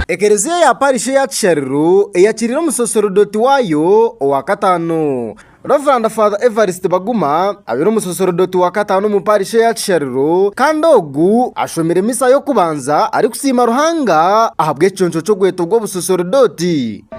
Ekereziya ya parish eya Kishariro eyakiriire omusaserodoti waayo owa kataano Rev Father Evarist Baguma abaire omusaserodoti wa kataano omu parish eya Kishariro kandi ogu ashomire misa y'okubanza arikusiima Ruhanga ahabw'ekiconco ky'obweto bw'obusaserodoti.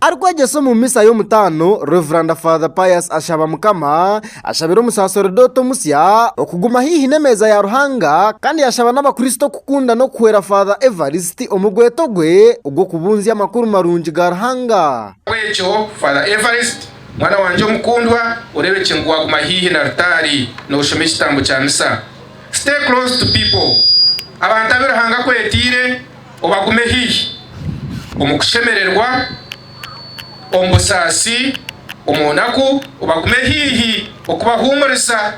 Arikwegyesa omu misa y'omutaano, Rev. Father Pius ashaba Mukama ashabire omusaseredooti omusya okuguma haihi n'emeeza ya Ruhanga kandi yashaba n'abakristo kukunda n'okuhwera Father Evarist omu gweto gwe ogw'okubunzya amakuru marungi ga Ruhanga. Ahabw'ekyo, Father Evarist, mwana wangye omukundwa, oreebekye ngu waaguma haihi n'altaari nooshoma ekitambo kya misa. Stay close to people, abantu abu Ruhanga akwetiire obagume haihi, omu kushemererwa, omu busaasi, omu naku, obagume haihi okubahuumuriza,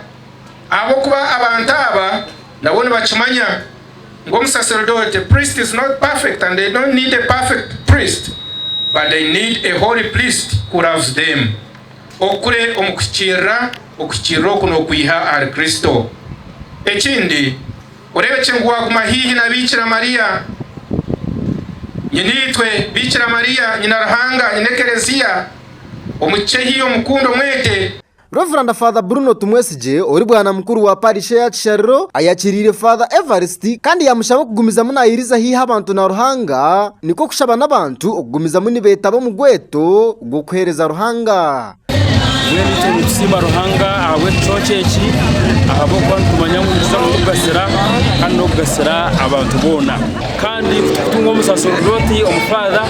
ahabw'okuba abantu aba nabo nibakimanya ngu omusaserdote, priest, is not perfect and they don't need a perfect priest but they need a holy priest who loves them. okure omu kuhikiirira, okuhikiirira oku n'okwiha ahari Kristo. Ekindi, oreebekye ngu waaguma haihi na Biikira Mariya, Nyinaitwe, Biikira Mariya, Nyina Ruhanga, Nyina Ekereziya, omu kikye haihi omukunde, omwete. Rev. Father Bruno Tumwesigye ori bwana mukuru wa parish eya Kishariro ayakiriire Father Evarist kandi yamushaba okugumizamu nayiriza haihi abantu na Ruhanga nikwo kushaba n'abantu okugumizamu nibetaba omu gweeto gw'okuheereza Ruhanga. Mbwenu itwe nitusiima Ruhanga ahabw'ekicweka eki, ahabw'okuba nitumanya ngu nikiza kutugasira kandi n'okugasira abantu boona. Kandi ku tukutunga omusaserdooti omu Faatha,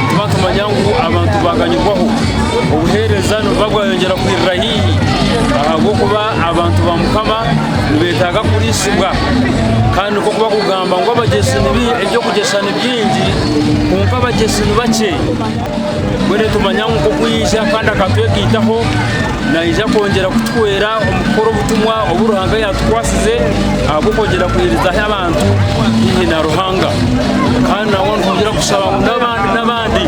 nituba nitumanya ngu abantu baaganyirwaho, obuheereza nibuba bwayongyera kwirira haihi, ahabw'okuba abantu ba Mukama nibeetaaga kuriisibwa. Kandi nikwo barikugamba ngu, Abagyesi ni baingi, kwonka abaheereza ni bakye. Mbwenu nitumanya ngu nk'oku yaija kandi akatwegaitaho, naija kwongyera kutuhwera omu kukora obutumwa obu Ruhanga yaatukwasize ahabw'okwongyera kuhwerizaho abantu haihi na Ruhanga. Kandi nangwa nitwongyera kushaba ngu n'abandi n'abandi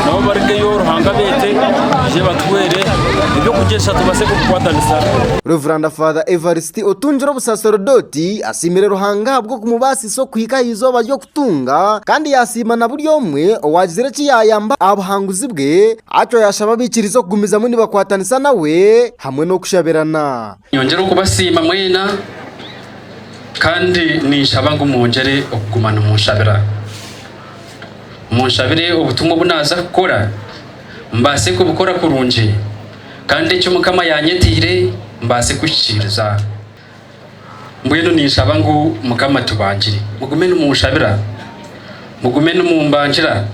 nabo barugeyo Ruhanga abeete baije batuhwere eby'okugyesa tubaase kubikwatanisa. Rev. Father Evarist Otungire Obusaserdoti asiimire Ruhanga ahabw'okumubaasisa okuhika aha izooba ry'oku Tunga kandi yaasiima na buri omwe owaagizire eki yaayamba aha buhanguzi bwe. Atyo yaashaba abaikiriza okugumizamu nibakwatanisa nawe hamwe n'okushabirana. Nyongera okubasiima mwena kandi ninshaba ngu mwongyere okuguma nimunshabira. Munshabire obutumwa obu naaza kukora mbaase kubukora kurungi kandi eki Mukama yaanyetiire mbaase kuhikiiriza. Mbwenu ninshaba ngu Mukama atubangire. Mugume nimunshabira. Mugume nimumbangira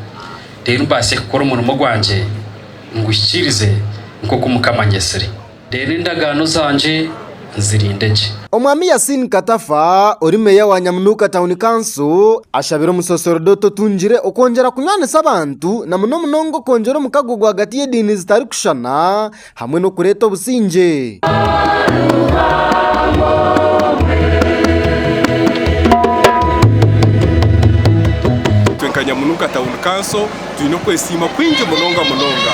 reero mbaase kukora omurimo gwangye nguhikiirize nk'oku Mukama anyetsire. Reero endagaano zangye nzirinde gye. Omwami Yasin Katafa ori Meeya wa Nyamunuuka Town Council ashabire omusoosorodooti otungire okwongyera kunywanisa abantu na muno munonga okwongyera omukago rwagati y'ediini zitarikushushana, hamwe n'okureeta obusingye. Itwe nka Nyamunuka Town Council twine okwesiima kwingi munonga munonga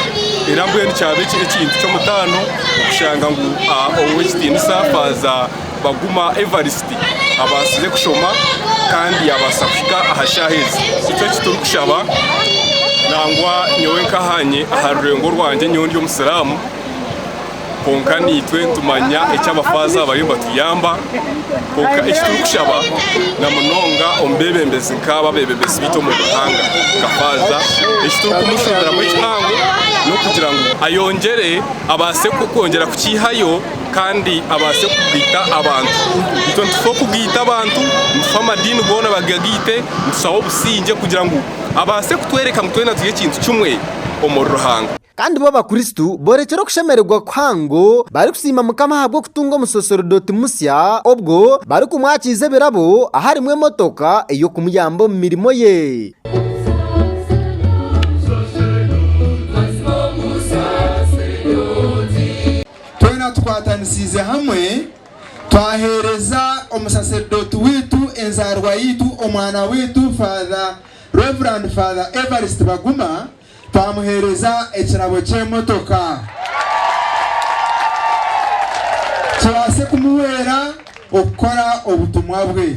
era mbwenu kyaba ekintu ky'omutaano okushanga ngu Ow'ekitiinisa Faaza Baguma Evarist abaasize kushoma kandi yaabaasa kuhika aha shaaha ezi. Nikyo eki turikushaba nangwa nyowe nkahaanye aha rurengo rwangye nyowe ndi omusiraamu kwonka naitwe nitumanya eki abafaaza aba bariyo nibatuyamba kwonka eki turikushaba na munonga omu beebembezi nk'aba abeebembezi baitu omu ihanga nka faaza eki turikumushubiramu ekihango n'okugira ngu ayongyere abaase kwongyera kukiihayo. kandi abaase kugaita abantu. Itwe nitufa okugaita abantu, nitufa amadiini goona bagagaite, nitushaho obusingye kugira ngu abaase kutworeka ngu twena turi ekintu kimwe omuri Ruhanga. Kandi bo Abakristo boorekire okushemererwa kuhango barikusiima Mukama ahabw'okutunga omusoserodoti musya obwo barikumwakiiza ebirabo aharimu emotoka ey'okumuyamba omu mirimo ye. twena tukwatanisiize hamwe, twaheereza omusaserdooti waitu, enzaarwa yaitu, omwana waitu Father Rev. Father Evarist Baguma, twamuheereza ekirabo ky'emotoka kibaase kumuhwera okukora obutumwa bwe.